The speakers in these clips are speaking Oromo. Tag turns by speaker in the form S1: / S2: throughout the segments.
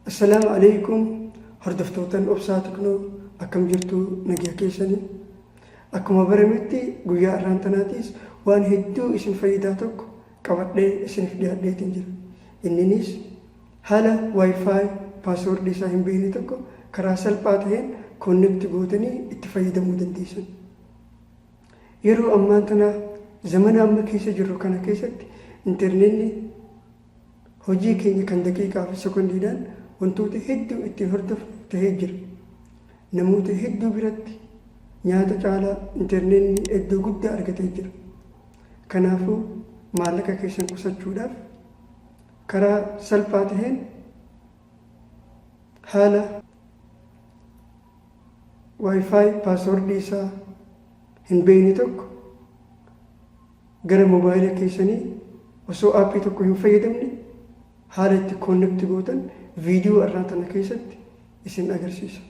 S1: Assalaamu alaikum hordoftootan obsaa tiknoo akkam jirtu nagaa keessanii akkuma barametti guyyaa irraan tanaatiis waan hedduu isin fayyidaa tokko qabadhee isiniif dhiyaadheetiin jira inninis haala wifi paaswordii isaa hin beekne tokko karaa salphaa ta'een koonnekti gootanii itti fayyadamuu dandeessan yeroo ammaan tanaa zamana amma keessa jirru kana keessatti intarneetni Hojii keenya kan daqiiqaa fi sekondiidhaan wantoota hedduu ittiin hordofnu ta'ee jira. Namoota hedduu biratti nyaata caalaa interneetni iddoo guddaa argatee jira. Kanaafuu maallaqa keessan qusachuudhaaf karaa salphaa ta'een haala Wi-Fi paaswordii isaa hin beekne tokko Gara mobaayila keessanii osoo aappii tokko hin fayyadamne haala itti connect gootan viidiyoo arraa tana keessatti isin agarsiisa.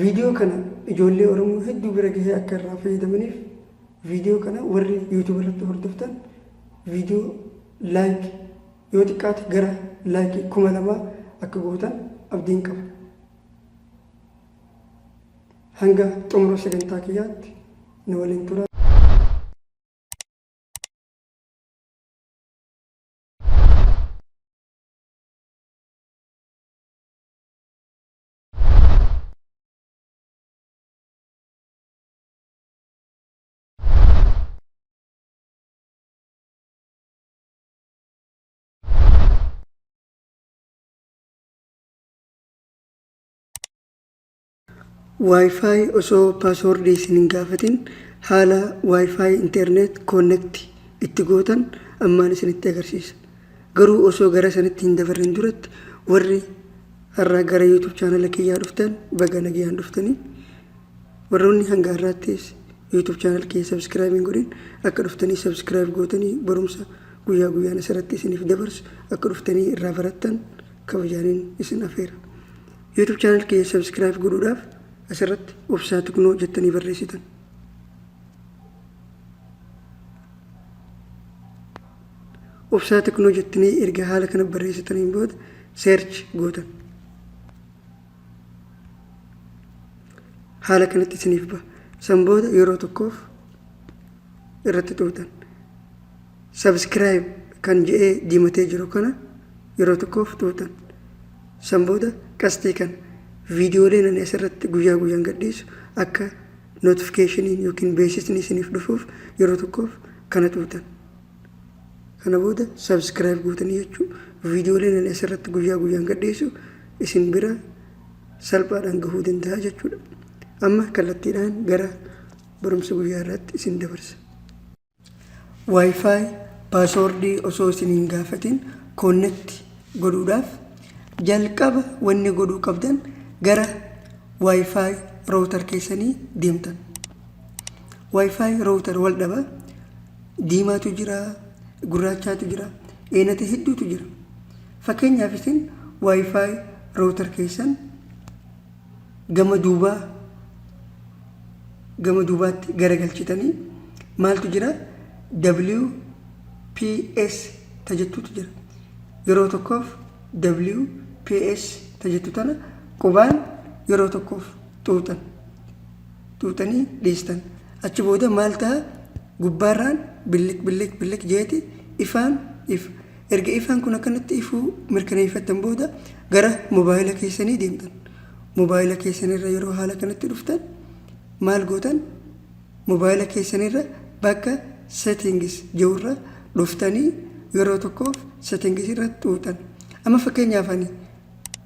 S1: Viidiyoo kana ijoollee Oromoo hedduu bira gahee akka irraa fayyadamaniif viidiyoo kana warri YouTube irratti hordoftan viidiyoo like yoo xiqqaate gara like kuma lamaa akka gootan abdiin qaba. Hanga xumura sagantaa kiyyaatti na waliin tura. Wi-Fi osoo password isin hin gaafatin haala Wi-Fi internet connect itti gootan ammaan isinitti agarsiisa. Garuu osoo gara sanitti hin dabarrin duratti warri har'a gara YouTube channel kiyyaa dhuftan baga nagayaan dhuftanii. Warroonni hanga har'aattis YouTube channel kiyya subscribe hin godhin akka dhuftanii subscribe gootanii barumsa guyyaa guyyaan asirratti isiniif dabarsu akka dhuftanii irraa barattan kabajaanin isin afeera. YouTube channel kiyya subscribe godhuudhaaf asirratti obsaa tugnoo jettanii barreessitan. Obsaa tugnoo jettanii erga haala kana barreessitaniin booda search gootan. Haala kanatti isiniif ba'a. San booda yeroo tokkoof irratti xuuxan. Subscribe kan je'ee diimatee jiru kana yeroo tokkoof tuutan. San booda qasxii kan viidiyooleen ani asirratti guyyaa guyyaan gadhiisu akka notifikeshiniin yookiin beeksisni isiniif dhufuuf yeroo tokkoof kana tuutan. Kana booda subscribe gootanii jechuu viidiyooleen ani asirratti guyyaa guyyaan gadhiisu isin bira salphaadhaan gahuu danda'a jechuudha. Amma kallattiidhaan gara barumsa guyyaa irratti isin dabarsa. Wi-Fi passwordii osoo isin hin gaafatin connect godhuudhaaf jalqaba wanni godhuu qabdan gara Wi-Fi router keessanii deemtan. Wi-Fi router wal dhaba diimaatu jira, gurraachaatu jira, eenata hedduutu jira. Fakkeenyaaf isin Wi-Fi router keessan gama duubaa gama duubaatti garagalchitanii maaltu jira WPS ta jettutu jira. Yeroo tokkoof WPS ta jettu tana qubaan yeroo tokkoof xuuxan. Xuuxanii dhiistan. Achi booda maal ta'a gubbaarraan billik billik billik jeeti ifaan ifa. Erga ifaan kun akkanatti ifuu mirkaneeffattan booda gara mobaayila keessanii deemtan. Mobaayila keessanirra yeroo haala kanatti dhuftan maal gootan? Mobaayila keessanirra bakka settings jirurra dhuftanii yeroo tokkoof settings irra xuuxan. Amma fakkeenyaaf ani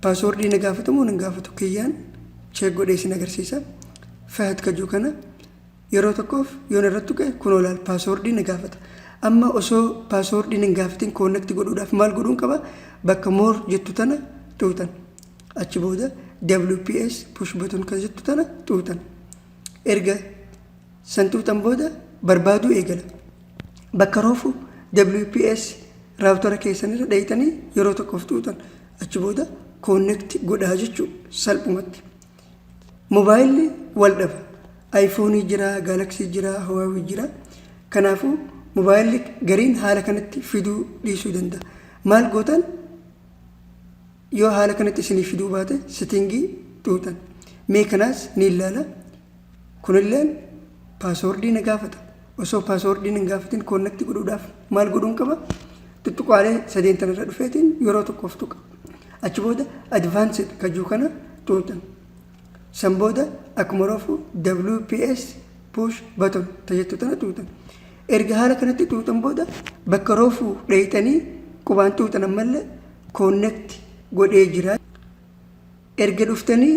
S1: paaswoordii na gaafatamu hin gaafatu kiyyaan cheek godhee isin agarsiisa. Fahad kajuu kana Yeroo tokkoof yoon irratti tuqe kunoo laal paaswoordii na gaafata. Amma osoo paaswoordii na hin gaafatin koonnekti godhuudhaaf maal godhuun qaba? Bakka moor jettu tana xuuxan. Achi booda WPS push button kan jettu tana xuuxan. Erga san xuuxan booda barbaaduu eegala. Bakka roofu WPS raawutara keessanirra dhayxanii yeroo tokkoof xuuxan. Achi booda koonnekti godhaa jechuu salphumatti. Mobaayilli wal dhaba. Ayifoonii jira, gaalaksii jira, hawaawii jira. Kanaafuu mobaayilli gariin haala kanatti fiduu dhiisuu danda'a. Maal gootan yoo haala kanatti isinii fiduu baate sitingii xuuxan. Mee kanaas ni ilaala. Kunilleen paaswoordii na gaafata. osoo paaswoordiin hin gaafatin koonnatti godhuudhaaf maal godhuun qaba? Tuttuqaalee sadeen tan irra dhufeetiin yeroo tokkoof tuqa. Achi booda advanced kajuu kana tuutan. San booda akkuma roofu WPS push button tajettu tana tuutan. Erga haala kanatti tuutan booda bakka roofu dheeyxanii qubaan tuutan ammallee koonnatti godhee jira. Erga dhuftanii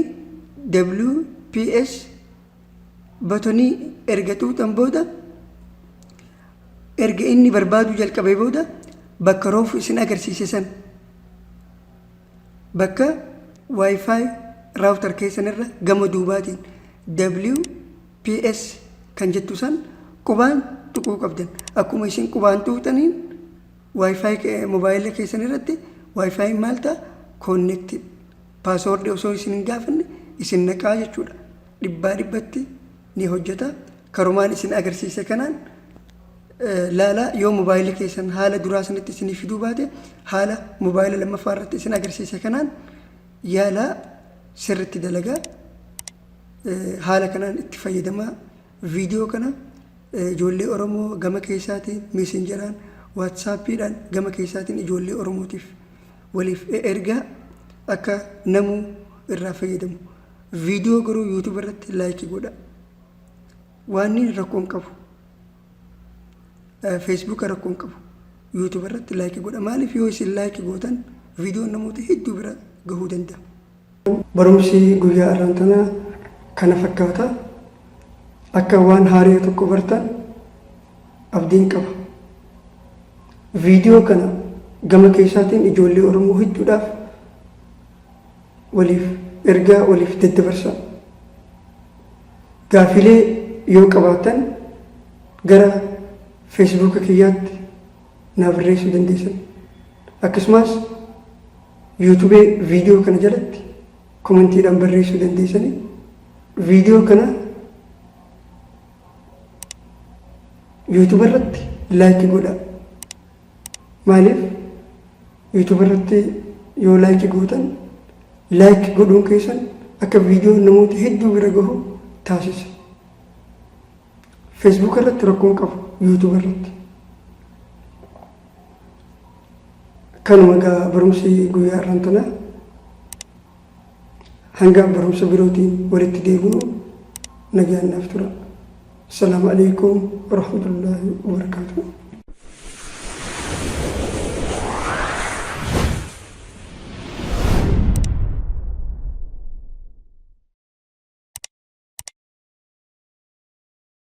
S1: WPS batonii erga xuuxan booda erga inni barbaaduu jalqabee booda bakka roofu isin agarsiise san bakka wifi raawutar keessan irra gama duubaatiin WPS kan jettu san qubaan tuquu qabdan akkuma isin qubaan tuqxaniin wifi mobaayila keessan irratti wifi maal ta'a connected paaswoordii osoo isin hin gaafanne isin naqaa jechuudha dhibbaa dhibbatti ni hojjeta. Karumaan isin agarsiise kanaan laalaa yoo mobaayilii keessan haala duraa sanitti isinii fiduu baate haala mobaayila lammaffaa irratti isin agarsiise kanaan yaalaa sirritti dalagaa haala kanaan itti fayyadamaa viidiyoo kana ijoollee Oromoo gama keessaatiin meesenjaraan waatsaappiidhaan gama keessaatiin ijoollee Oromootiif waliif ergaa akka namuu irraa fayyadamu. Viidiyoo garuu YouTube irratti laayikii godha. Waanni rakkoon qabu. Facebook rakkoon qabu. YouTube irratti laayikii godha. Maaliif yoo isin laayikii gootan viidiyoon namoota hedduu bira gahuu danda'a. Barumsi guyyaa har'aan tana kana fakkaata. Akka waan haaraa tokko bartan abdiin qaba. Viidiyoo kana gama keessaatiin ijoollee Oromoo hedduudhaaf Waliif ergaa waliif daddabarsaa. Gaafilee yoo qabaattan gara feesbuuka kiyyaatti naa barreessuu dandeessan. Akkasumas yuutubee viidiyoo kana jalatti komantiidhaan barreessuu dandeessanii viidiyoo kana yuutuba irratti laayikii godhaa. Maaliif YouTube irratti yoo like gootan like godhuun keessan akka viidiyoon namoota hedduu bira gahu taasisa. Facebook irratti rakkoon qabu YouTube irratti. Kanuma egaa barumsi guyyaa irraan tanaa. Hanga barumsa birootiin walitti deebinu nagaan naaf tura. Assalaamu alaikum warahmatullaahi wabarakaatuh.